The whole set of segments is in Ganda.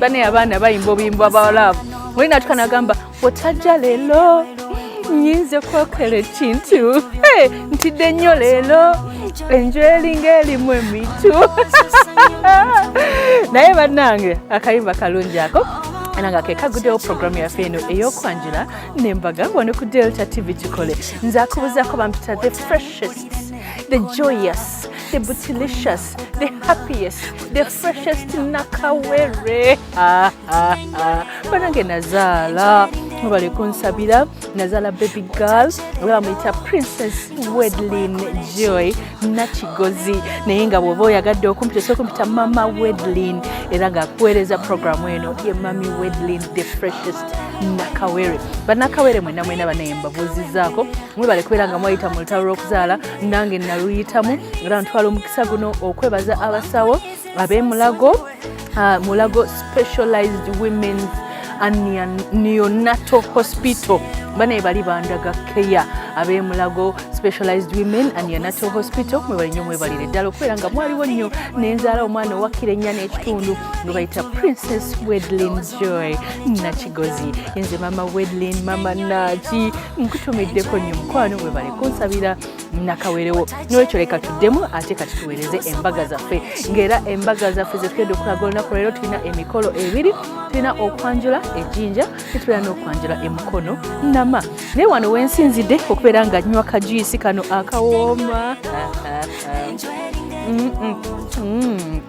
bane abaana bayimba obuyimba bwa laavu muli natuka nagamba otajja leero nyinza okwokera ekintu ntidde nnyo leero enju eringa erimu emitu naye bannange akayimba kalungi ako era nga kekagudewo puroguramu yaffe eno ey'okwanjula nembaga wano ku delta tv kikole nze akubuzaako bampita the freshest the joyous the bootylicious, the happiest, the freshest nakawere. Ah, ah, ah. Banange nazala mubale kunsabira nazala baby girl oba bamuyita princess wedlin joy nakigozi naye nga bwoba oyagadde okumpita osobola kumpita mama wedlin era nga kuweereza programu eno ye mami wedlin the freshest nakawere banakawere mwena mwena banaye mbabuuzizaako mwebale kubeera nga mwayita mu lutalo lw'okuzaala nange naluyitamu era ntwala omukisa guno okwebaza abasawo abemulago uh, mulago specialized womens neonato hospital banaye bali bandaga keya abemulago specialized women and neonato hospital mwebalinyo mwebalire ddala okubeera nga mwaliwo nnyo nenzaala omwana owakira ennya n'ekitundu nga bayita princess wedlin joy nakigozi enze mama wedlin mama naki nkutumiddeko nnyo mukwano webale kunsabira nakawerewo nolwekyo leka tuddemu ate kati tuweereze embaga zaffe ngaera embaga zaffe zetugenda okulaga olunaku leero tulina emikolo ebiri tulina okwanjula ejinja tetubera n'okwanjula emukono nama naye wano wensinzidde okubeera nga nywa kajuyisi kano akawooma mm, mm, mm.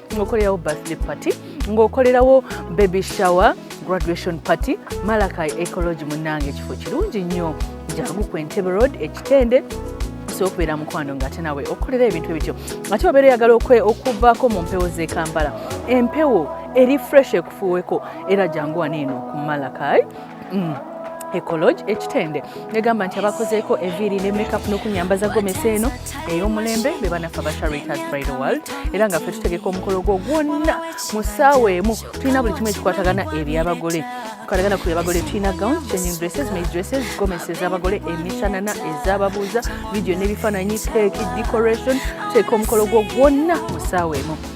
ngokolerawo birthday party ng'okolerawo baby shower graduation party malakai ecology munange ekifo kirungi nnyo jangu ku entebe road ekitende osobola okubeera mukwano nga ate nawe okukolera ebintu ebityo ate obeera oyagala okuvaako mu mpewo z'e kampala empewo eri fresh ekufuuweko era jangu wano eno ku malakai mm. ecologe ekitende negamba nti abakozeeko eviiri ne makeup n'okunyambaza gomesa eno ey'omulembe be banafa ba charitas bridal world era nga ffe tutegeka omukolo gwo gwonna mu ssaawa emu tulina buli kimu ekikwatagana eri abagole tukwatagana ku abagole tulina gown changing dresses maid dresses gomesa ez'abagole emishanana ez'ababuuza vidiyo n'ebifaananyi keeki decoration tuteeka omukolo gwo gwonna mu ssaawa emu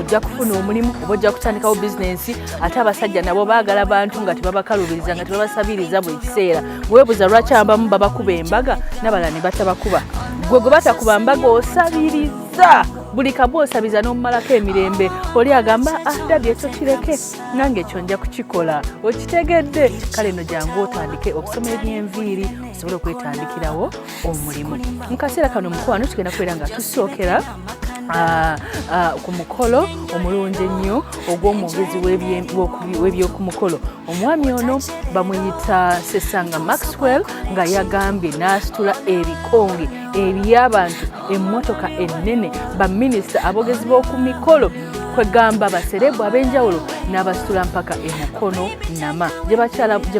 ojja kufuna omulimu oba ojja kutandikawo bizinensi ate abasajja nabo baagala bantu nga tebabakalubiriza nga tebabasabiriza buli kiseera webuza lwaki abamu babakuba embaga nabala ne batabakuba gwe gwe batakuba mbaga osabiriza buli kabu osabiza n'omumalako emirembe oli agamba ah dadi ekyo kireke nange ekyo nja kukikola okitegedde kale no jangu otandike okusoma ebyenviiri osobole okwetandikirawo omulimu mu kaseera kano mukwano tugenda kubeera nga tusookera Ah, ah, ku mukolo omulungi ennyo ogw'omwogezi w'ebyokumukolo omwami ono bamuyita sesanga maxwell nga yagambye n'asitula ebikonge eby'abantu emmotoka ennene baminisita abogezi b'oku mikolo kwegamba baserebu ab'enjawulo n'abasitula mpaka emukono nama gye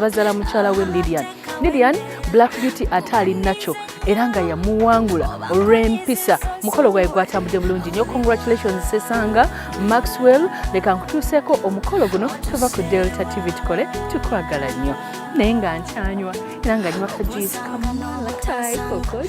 bazaala mukyala we lilian lilian black beauty ate ali nakyo era nga yamuwangula olw'empisa mukolo gwaye gwatambudde bulungi nyo congratulations sesanga maxwell leka nkutuuseeko omukolo guno tuva ku delta tv tukole tukwagala nnyo naye nga nkyanywa era nga nywa kajuisi kamalakokoyo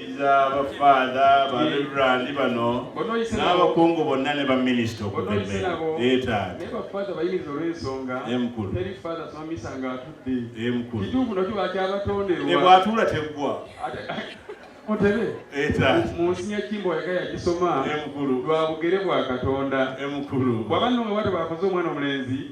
abafaada bareverandi bano n'abakungu bonna ne baminisita okubemeebwatuula teggwa mutebe munsi nyakimbo yaga yagisoma lwa bugere bwa katonda bwaba nno nga bwatyo bwakoze omwana omulenzi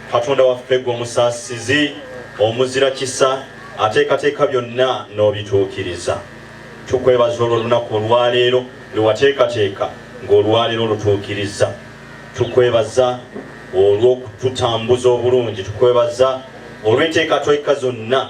katonda waffe gwe omusaasizi omuzira kisa ateekateeka byonna n'obituukiriza tukwebaza olwo olunaku olwaleero lwewateekateeka ng'olwaleero olutuukiriza tukwebaza olw'okututambuza obulungi tukwebaza olw'enteekateeka zonna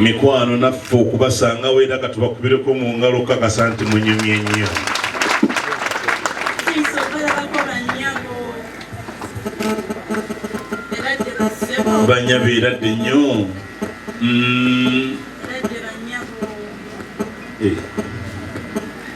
mikwano naffe okubasangawo era katubakubireko mu ngalo okukakasa nti munyumye nnyo banyabo era dde nnyo mm. eh.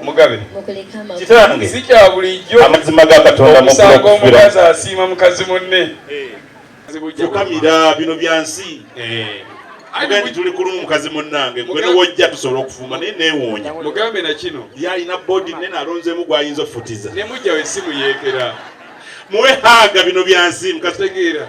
omugabe kitange si kya bulijjo amazima ga katonda mukusanga omukazi asiima mukazi munne tukamira eh. bino bya nsi eh. agandi tuli kulumu mukazi munnange gwe newojja tusobola okufumba naye newoonya mugambe na kino yalina bodi nene alonzemu gwayinza okufutiza nemujjawo esimu yeekera muwe haaga bino bya nsi mukazi tegeera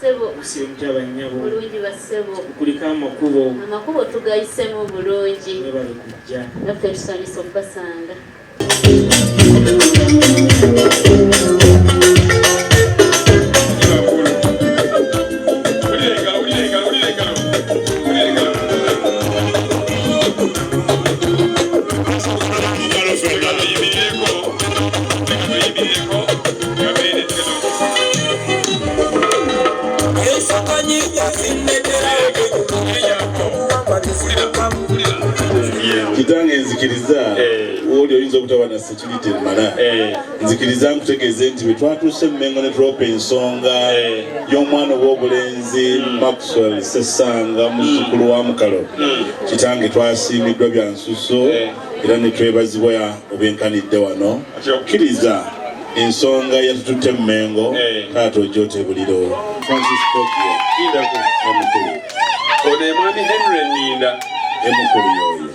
Sebo. Kusembya bannyabo. Bulungi ba sebo. Tukulike amakubo. Amakubo tugayisemu bulungi. Mwebale kujja. Naffe tusanyuse okubasanga. kitange nzikiriza eh. wooli oyinza obutaba na security emala eh. nzikiriza nkutegeeze nti bwe twatuuse mumengo ne tulopa ensonga eh. y'omwana ow'obulenzi hmm. maxwell sesanga muzzukulu wa mukalo hmm. kitange twasiimiddwa bya nsuso era ne twebazibwa obwenkanidde wano okkiriza ensonga yatututte mu mengo eh. taata ojotebuliro ono emwami henry ninda emukulu yoyo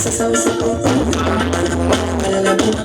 Sasa usiku, bana bana bana bana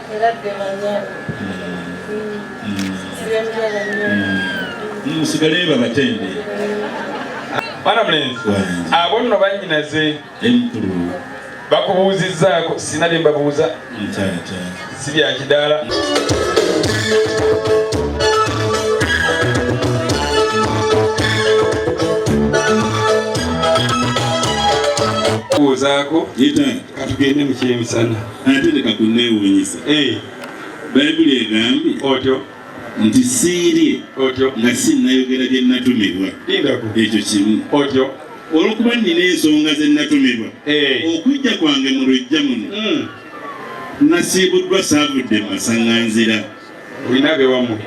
musigale babatende mwana mulenzi abo nno banyinaze bakubuuzizzaako sina bye mbabuuza si bya kidaala kubuuzaako katugende mu kyemisana ate leka kunneewuunyisa eh. bayibuli egambye otyo nti siirye otyo nga sinnayogera bye nnatumibwa ekyo kimu otyo olwokuba nnina ensonga ze nnatumibwa eh. okujja kwange mu lujja muno hmm. nasiibuddwa saavudde mu masaŋŋanzira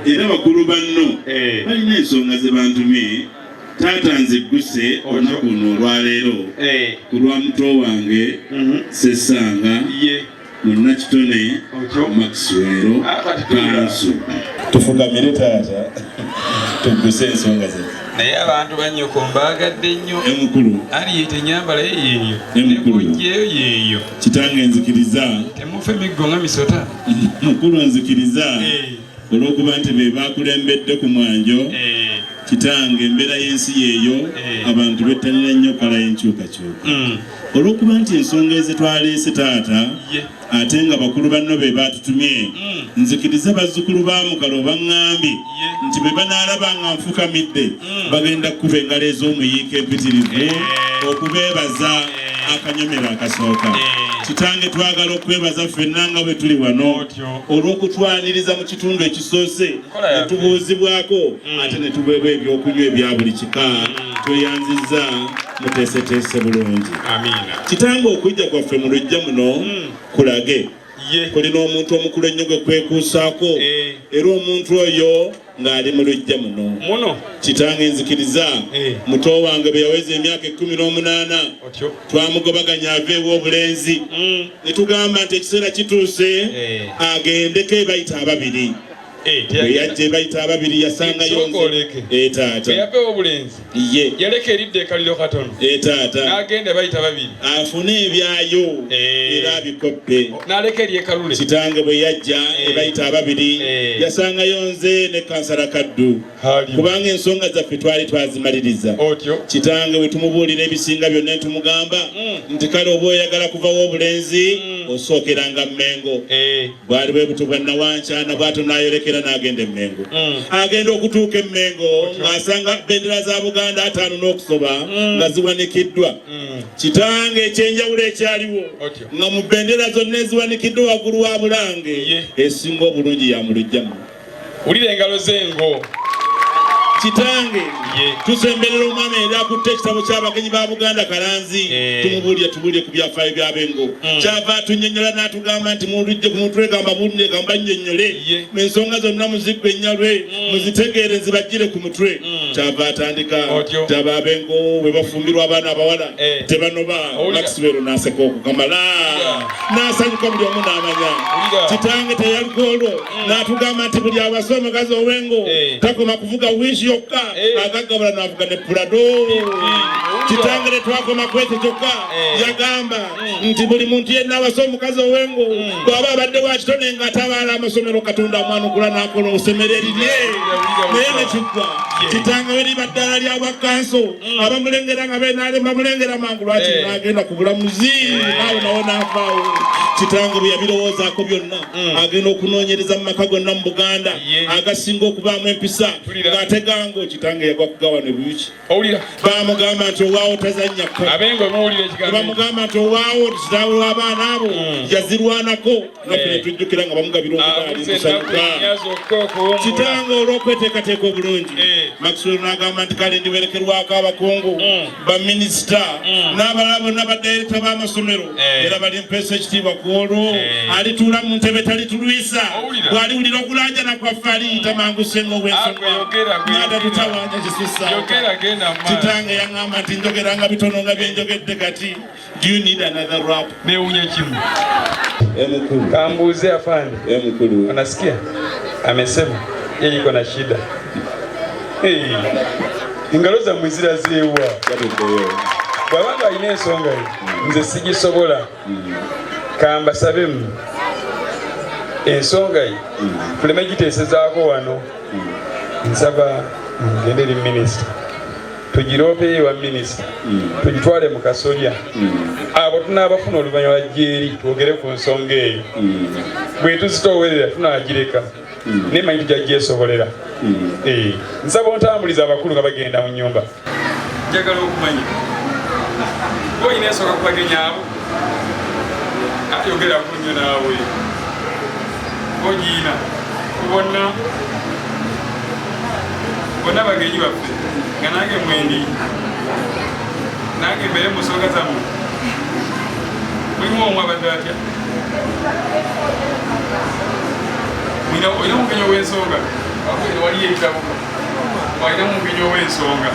era bakulu banno eh. balina ensonga ze bantumye taata nzigguse olunaku luno olwaleero eh. ku lwa muto wange mhm. sesanga munnakitone maxwero ah, kanso tufugamire taata tugguse ensonga zaffe naye abantu banyoko mbaagadde nnyo emukulu aliyita enyambala ye yeeyo emukulu yeeyo yeeyo kitange nzikiriza temufa emiggo nga misota mukulu nzikiriza eh. olwokuba nti be bakulembedde ku mwanjo eh. kitange embeera y'ensi yeeyo eh. abantu bettanira nnyo kala y'enkyukakyuka mm. olwokuba nti ensonga ezitwaleese taata ate nga bakulu banno be baatutumye mm. nzikiriza bazzukulu ba mukalo baŋŋambye nti bwe banaalaba nga nfukamidde mm. bagenda kukuba engalo ez'omuyiika empitirivu eh. okubeebaza eh. akanyomero akasooka eh. kitange twagala okwebaza ffenna nga bwe tuli wano olw'okutwaniriza mu kitundu ekisoose ne tubuuzibwako mm. ate ne tubeebwa ebyokunywa ebya buli kika mm. tweyanzizza muteeseteese bulungi kitange okujja kwaffe mu lujja muno kulage kulina omuntu omukulu ennyo gwe kwekuusaako eh. era omuntu oyo ng'ali mu lujja muno muno kitange nzikiriza eh. muto wange bwe yaweza emyaka ekkumi n'omunaana twamugobaganya ava ew'obulenzi mm. ne tugamba nti ekiseera kituuse eh. agendeko ebayita ababiri Eh, bwe yajja ebayita ababiri yasangayo etaata eh, yapewa obulenzi ye yaleka eridda ekaliro katono etaata eh, n'agenda bayita babiri afune ebyayo era abikoppe oh, n'aleka eri ekalule kitange bwe yajja ebayita ababiri yasangayo nze ne kansala kaddu kubanga ensonga zaffe twali twazimaliriza kitange bwe tumubuulira ebisinga byonna ne tumugamba mm. nti kale oba oyagala kuvawo obulenzi mm. osookeranga mmengo eh. bwali bwe butyo bwa nawankyana bw'ato n'ayolekera n'agenda emmengo mm. agenda okutuuka emmengo ng'asanga bendera za buganda ataano n'okusoba nga ziwanikiddwa kitange ekyenjawulo ekyaliwo nga mu bendera zonna eziwanikiddwa waggulu wa bulange esinga obulungi yamulujjamu Wulira engalo ze ngo kitange tusemberera omwana era akutte ekitabo ky'abagenyi ba buganda kalanzi eh. tumubuulire tubuulire ku byafaayo byabengo hmm. kyava atunyonyola n'atugamba nti mulujje ku mutwe gamba buulire gamba nnyonyole ensonga zonna muziggu ennyalwe hmm. muzitegeere nzibajjire ku mutwe hmm. kyava atandika taba abengo bwe bafumbirwa abaana abawala eh. tebanoba maxwero n'aseka okukamala n'asanyuka buli omu n'amanya kitange teyalugolwo mm. natugamba nti buli awasa omukazi owengo eh. takoma kuvuga wishi yokka eh. agagabula navuga ne pulado kitangire twakoma kwekyo kyokka eh. yagamba mm. nti buli muntu yenna awasa omukazi owengo mm. bwaba abadde wakitone nga atabaala amasomero katonda amwanukula nakola osemero erirye naye nekiggwa kitanga we liba ddala lya bwakanso abamulengera nga benaalemba mulengera mangu lwaki nagenda ku bulamuzi naawe nawo navaawo kitanga bwe yabirowoozako byonna mm. agenda okunoonyereza mu maka gonna mu buganda agasinga okubaamu empisa ng'ate gango kitange yagwa kugawa ne buyuki bamugamba nti owaawo tazannya kobamugamba nti owaawo kitaawe w'abaana abo mm. yazirwanako naffe eh. tujjukira nga bamugabira ah, omugaalimusanyuka kitange olw'okweteekateeka obulungi eh. maxwell n'agamba nti kale ndiwerekerwako abakungu mm. baminisita mm. n'abalala bonna badayirekita b'amasomero eh. era bali mpeesa ekitiibwa ku olwo eh. alituula mu ntebe talitulwisa bw'aliwulira okulaajana kwaffe aliyita mangu senga obwensongaatutawanya kisusa kitange yaŋŋamba nti njogeranga bitono nga byenjogedde kati Do you need another rap? Newunya kimu. Emukulu. Kambuze afande. Emukulu. Unasikia? Amesema yeye iko na shida. Hey. Ingalo za mwizira zewa. Bwaba nga alina ensonga ye mm. nze sigisobola mm. kambasabemu ensonga ye tuleme mm. giteesezaako wano nsaba ngende eri minisita tugiroopeyo ewa minisita tugitwale mu kasolya abo tunaabafuna oluvannyuma gyeri twogere ku nsonga eyo bwe tuzitoowerera tunaagireka naye manyi tujja gyesobolera eh, nsaba ontambuliza abakulu nga bagenda mu nyumba njagala okumanya olina ensonga kubagenyaabo ayogera kunyo naawe ogiina kubonna bonna bagenyi baffe nga nange mwendi nange mbere musoga zamu mulimu omu abadde atya mwina olina omugenyi ow'ensonga waliyo ebitabo walina omugenyi ow'ensonga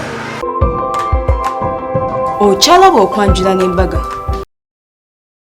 okyalaba okwanjula n'embaga